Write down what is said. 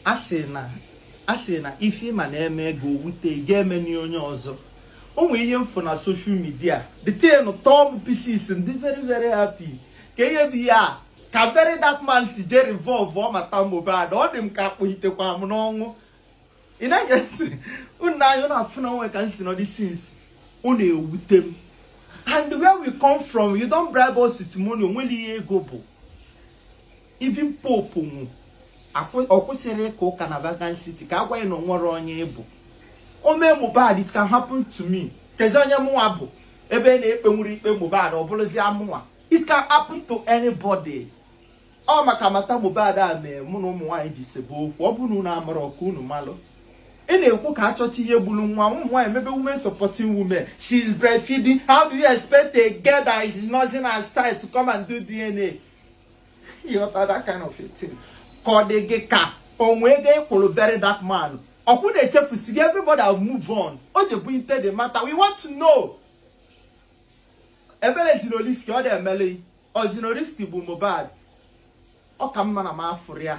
a sị na a sị na ife ị ma na e mee gị o wute gị emena onye ọzọ o nwere ihe m fụ na social media the thing tọọ m pieces m dị very very happy ka ihe dị ya ka very dark man si je revolve ọ matter Mohbad ọ dị m ka a kpụhitekwa m n'ọnwụ ị na-ene m anya na-afụ na o nwe ka m si nọdị since ọ na-ewute m and where we come from you don't bribe us with money o nwerọ ihe ego bụ even pope nwụ ọ kwụsịrọ ịka ụka na Vatican City ka a gwa ya na o nwerọ onye ị bụ o mee Mohbad it can happen to me kezi onye mụnwa bụ ebe na ekpenwurọ ikpe Mohbad ọ bụrụzia mụnwa it can happen to anybody ọ maka matter Mohbad a mee mụ na ụmụ nwaanyị ji sebe okwu ọ bụrụ na amara ọka unu malụ ị na-ekwu ka a chọta ihe gburu nwa ụmụ nwaanyị mebe women supporting women she is breastfeeding how do you expect a girl that is nursing her child to come and do DNA ị ghọta that kind of a thing ka ọ dị gị ka o nwe ego ị kwụrụ very dark man ọkwa unu echefusigo everybody have move on o jebe into the matter we want to know ebere Zinoleesky ọ dị emele ọ Zinoleesky gbu Mohbad ọ ka mma na m afụrọ ya